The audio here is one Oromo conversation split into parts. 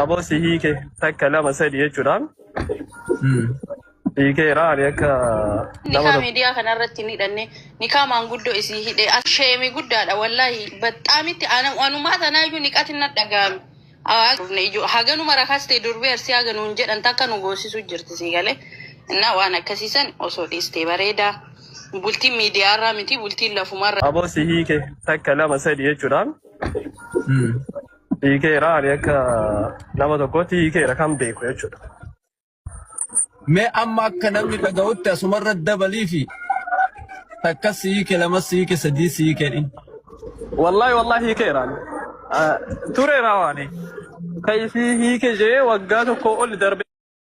Aboo si hiike takka lama sadi jechuudhaan Hmm. hiikeera ani akka nama Nikaa tokko miidiyaa kanarratti hin hidhanne nikaa maanguddoo isii hidhe asheemi guddaadha wallaahi baxxaamitti ana- anumaa tanaayyuu niqati na dhaga'ame. Aa, dhufne ijoo- Haganuma rakaas ta'e durbee arsii haganuun jedhan takka nu goosisuu jirti sii galee innaa waan akkasiisan osoo dhiistee bareedaa bultiin miidiyaarraa miti bultiin lafumarra. aboo si hiike takka lama sadi jechuudhaan Hmm. Hiikeera ani akka nama tokkootti hiikeera kan beeku jechuudha. Mee amma akka namni dhaga'utti asumarra dabalii fi takka siike lama siike sadii siike dhin. Wallaahi wallaahi hiikeera ani. Ah, Tureera waani. Kan isii hiike jee waggaa tokko oli darbe.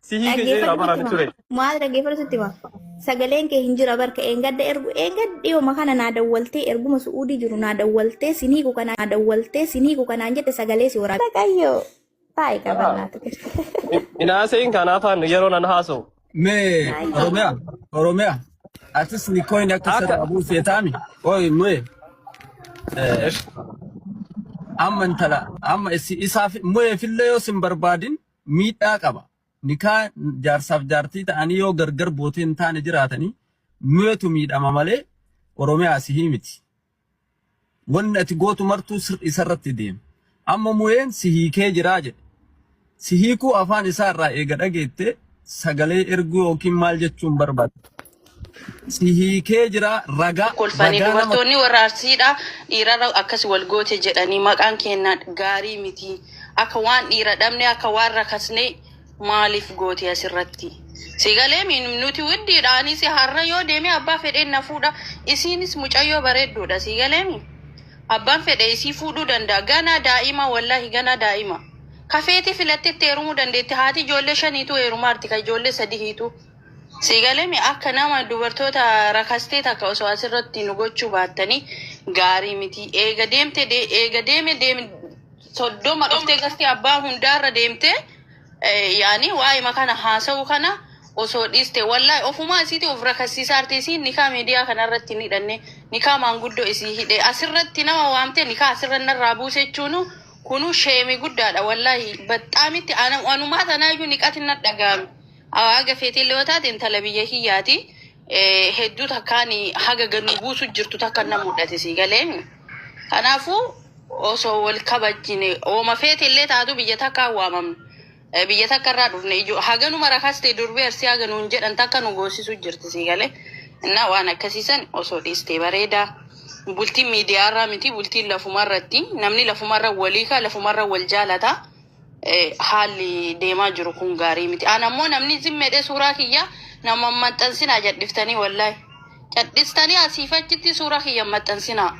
Si hiike jedhee Dhaggeeffadhu amanaa sitti ture. hima. Maal dhaggeeffadhu sitti hima. Sagaleen kee hin jira barka eengadda ergu eengadda dhiyooma kana naa dawwaltee erguma su'uudii jiru naa dawwaltee sinii ku kanaa naa dawwaltee sinii ku kanaan jette sagalee si waraabde. Waaqayyoo taa'e Haa. qabannaatu keessa. Inaaseen kanaafaan yeroo nan haasa'u. Me Baay'ee. Oromia, Oromia. Atis ni coin akka Akka. sada abu setami. Oi me. Eh, Esh. amma intala amma isi isaaf mo'ee fillee yoo sin barbaadin miidhaa qaba. Nikaa jaarsaaf jaartii ta'anii yoo gargar bootee hin taane jiraatanii nuyetu miidhama malee Oromiyaa sihii miti. Wanni ati gootu martuu sir isarratti deema. Amma muyeen si hiikee jiraa jedhe. Si hiikuu afaan isaa irraa eega dhageettee sagalee erguu yookiin maal jechuun barbaadda? Si hiikee jira raga kolfanii bagaa nama dubartoonni warra arsiidha dhiirarra akkas wal goote jedhanii maqaan keenya gaarii miti akka waan dhiira dhabne akka waan rakasne maaliif goote asirratti si galee mi nuti widdiidha anis har'a yoo deeme abbaa fedheen na fuudha isiinis mucayyoo bareedduudha si galee mi abbaan fedhe isii fuudhuu danda'a ganaa daa'ima wallaahi ganaa daa'ima kafeetii filattetti heerumuu dandeetti haati ijoollee shaniitu heerumaarti ka ijoollee sadihiitu Sii galemi akka nama dubartoota rakastee takka osoo asirratti nu gochuu baattanii gaarii miti. Eega deemte de- eega deeme deeme soddoma dhuftee gasti abbaa hundaarra deemte eh, yaani waa'ima kana haasa'u kana osoo dhiiste wallahi ofumaa isiiti of rakassiisaarte isiin nikaa miidiyaa kanarratti hin hidhanne nikaa maanguddoo isii hidhe asirratti nama waamte nikaa asirra narraa buuse jechuunu kunu sheemi guddaadha wallahi baxxaamitti ana- anumaa tanaayyuu niqatin nadhagaame. Haga feetillee yoo taate intala biyya kiyyaati. Eh, Hedduu takkaan haga gad nu buusu jirtu takka na mudhate sii galee. Kanaafuu osoo wal kabajjine ooma feetillee taatu biyya takkaa waamamne. Eh, Biyya takka irraa dhufne ijoo haga numa rakaste durbee arsii haga nuun jedhan takka nu goosisu jirti sii galee. Innaa waan akkasiisan osoo dhiistee bareedaa. Bultiin miidiyaa irraa miti bultiin lafumarratti namni lafumarra walii kaa lafumarra wal jaalataa. eh, haalli deemaa jiru kun gaarii miti. An ammoo namni zimmeedhe suuraa kiyya nama hin maxxansinaa jadhiftanii wallahi. Cadhistanii asiif achitti suuraa kiyya hin maxxansinaa.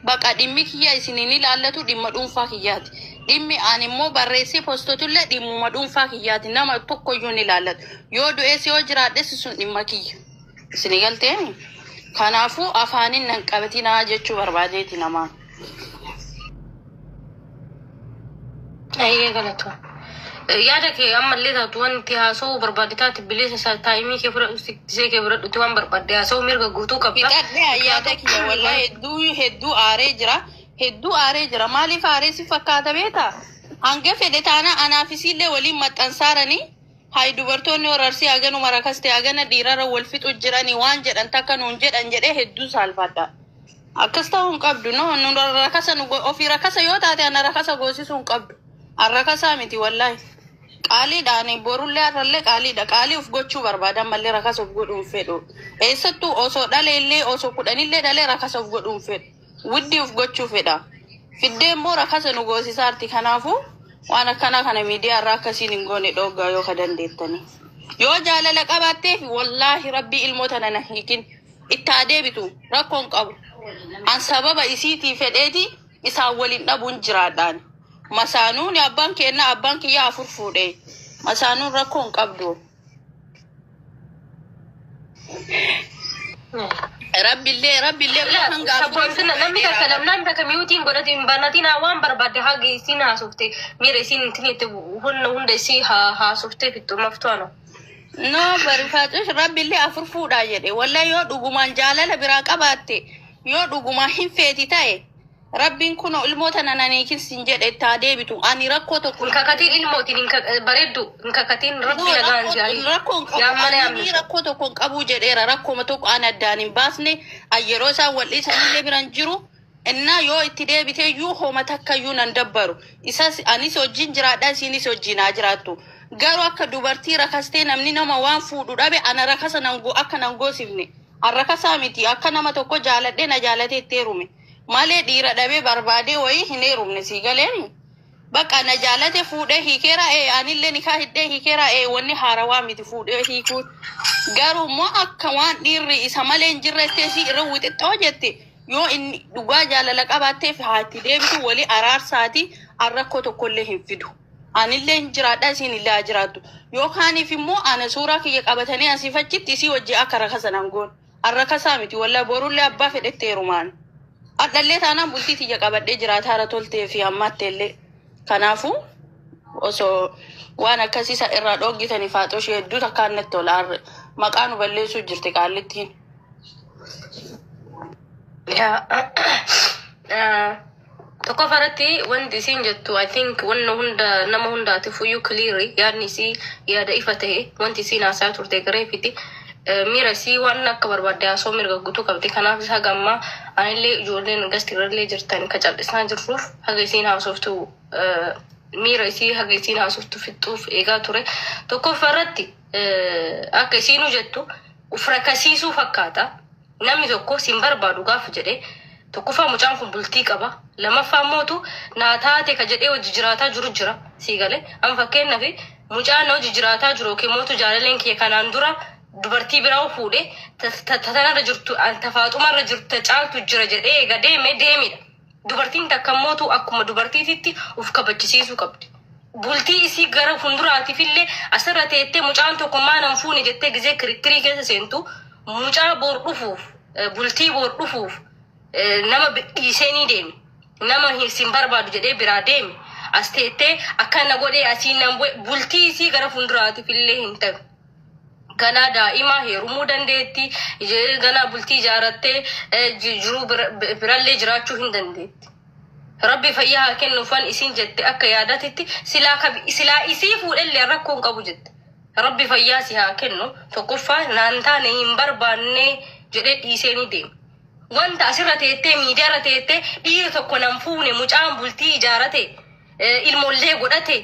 Baqa dhimmi kiyya isin hin ilaallatu dhimma dhuunfaa kiyyaati. Dhimmi an immoo barreessee postotullee dhimmuma dhuunfaa kiyyaati. Nama tokkoyyuu hin ilaallatu. Yoo du'ees yoo jiraadhes sun dhimma kiyya. Isin galteemi? Kanaafuu afaanin nan qabatinaa jechuu barbaadeeti namaan. Ayyee galatu. Yaada kee ammallee taatu wanti haasa'uu barbaadde taate bilisa isaa taa'imii kee fudhadhu siksee kee fudhadhuti waan barbaadde haasa'uu mirga guutuu qabda. Fixadhee ayyaada kiyya walaa hedduu hedduu aaree jira. Hedduu aaree jira. Maaliif aaree si fakkaata beektaa? Hanga fedhe taana anaa fi siillee waliin maxxansaaranii Hay dubartoonni warra Arsii haganuma rakaste hagana dhiirara wal fixu jirani waan jedhan takka nuun jedhan jedhee hedduu saalfadha. Akkas ta'uu hin qabdu no nu rakasa nu go- ofii rakasa yoo taate ana rakasa goosisuu hin qabdu. An rakasaa miti wallaahi. Qaaliidha ani borullee har'allee qaaliidha. Qaalii of gochuu barbaada ammallee rakasa of godhuu hin fedhu. Eessattuu osoo dhaleellee osoo kudhanillee dhalee rakasa of godhuu hin fedhu. Widdii uf gochuu fedha. Fiddee immoo rakasa nu goosisaarti. Kanaafuu waan akkanaa kana miidiyaa irraa akka isiin hin goone dhooggaa yoo ka dandeettanii. Yoo jaalala qabaatteef wallaahi rabbii ilmoo tana na hiikin. Itti haa deebitu rakkoon qabu. An sababa isiitii fedheeti isaan waliin dhabuun jiraadhaan. Masaanuun abbaan keennaa abbaan kiyyaa afur fuudhe. Masaanuun rakkoon qabdu. Rabbillee rabbillee waan hin gaafatu. Sabboontina namni takka namnaan takka miyuutiin godhate hin banatiin haa waan barbaadde haa geessiin haasofte miira isiin ittiin itti hunda hunda isii haa haasofte fixxu maftuano. No barifaatus rabbillee afur fuudhaa jedhe wallee yoo dhugumaan jaalala biraa qabaatte yoo dhugumaa hin feeti ta'e Rabbiin kuno ilmoo tana nan hiikin sin jedhe itti haa deebitu ani rakkoo tokko Hin kakatiin ilmootiin hin ka- bareeddu hin kakatiin No, rabbi nagaan rakkoo- jaarii. rakkoo hin qabu. Yaa mana Ani yaamne. rakkoo tokko hin qabu jedheera rakkuma tokko an addaan hin baasne an yeroo isaan wal dhiisanillee biran jiru innaa yoo itti deebite iyyuu homa takka iyyuu nan dabbaru isas anis hojiin jiraadha isiinis hojiin haa jiraattu garuu akka dubartii rakastee namni nama waan fuudhu dhabe ana rakasa nan go- akka nan goosifne an rakasaa miti akka nama tokko jaaladhee na jaalatee itti heerume Malee dhiira dhabee barbaadee wayii hin heerumne sii galeemi. Bakka na jaalate fuudhee hiikeera ee anillee nikaa hidhee hiikeera ee wanni haarawaa miti fuudhee hiikuun. Garuu immoo akka waan dhiirri isa malee hin jirretti isii irra wixixxoo jetti yoo inni dhugaa jaalala qabaatteef haa itti deebitu wali araarsaati an rakkoo tokkollee hin fidu. Anillee hin jiraadha isiin illee haa jiraattu. Yookaaniif immoo ana suuraa kiyya qabatanii asiif achitti isii wajji akka rakasan angoon. Arrakasaa miti wallahi borullee abbaa fedhetti heerumaan. Hadhallee taanaan bultii tiyya qabadhee jiraata hara toltee fi hammaatteellee. Kanaafu osoo waan akkasii san irraa dhooggitanii faaxoo ishee hedduu takkaan natti tola harre. Maqaa nu balleessuu jirti qaallittiin. Yaa. Tokkoffaa irratti wanti isiin jettu I think wanna hunda nama hundaatiif iyyuu clear yaadni isii yaada ifa ta'e wanti isiin haasaa turte gareefiti miira isii waan akka barbaadde haasoo mirga guutuu qabdi kanaaf isa haga ammaa anillee ijoolleen gasti irrallee jirtan ka cal'isaa jirruuf haga isiin haasoftu miira isii haga isiin haasoftu fixxuuf eegaa ture tokkoffaa irratti akka isiinuu jettu uf rakasiisuu fakkaata. Namni tokko sin barbaadu gaafa jedhe tokkoffaa mucaan kun bultii qaba lamaffaa mootu naa taate ka jedhee hojii jiraataa jiru jira sii gale an fakkeenyaaf mucaan na hojii jiraataa jiru yookiin mootu jaalaleen kiyya kanaan dura dubartii biraa fuudhe ta- ta- ta- tanarra jirtu an tafaaxumarra jirtu ta caaltu jira jedhee eega deeme deemidha Dubartiin takka immootu akkuma dubartiititti uf kabachisiisuu qabdi. Bultii isii gara funduraatiifillee asirra teettee mucaan tokko maa nan fuune jettee gizee kirikkirii keessa seentu mucaa boor dhufuuf eh, bultii boor dhufuuf eh, nama bi- dhiisee ni deemi. Nama hin sin barbaadu jedhee biraa deemi. As teettee akkana godhee asiin nan bu'e bultii isii gara funduraatiifillee hin ta'u. ganaa daa'imaa heerumuu dandeetti, ij- ganaa bultii ijaarattee eh, ji- jiruu bira- bi- birallee jiraachuu hin dandeetti. Rabbi fayyaa haa kennuufan isin jette akka yaadatitti silaa kabi- silaa isii fuudhellee rakkoo hin qabu jette. Rabbi fayyaa si haa kennu tokkoffaa naan taane hin barbaanne jedhee dhiisee ni deema. Wanta asirra teettee miidiyaarra teettee dhiira tokko nan fuune mucaan bultii ijaarate eh, ilmoollee godhate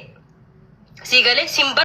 sii galee sin bar-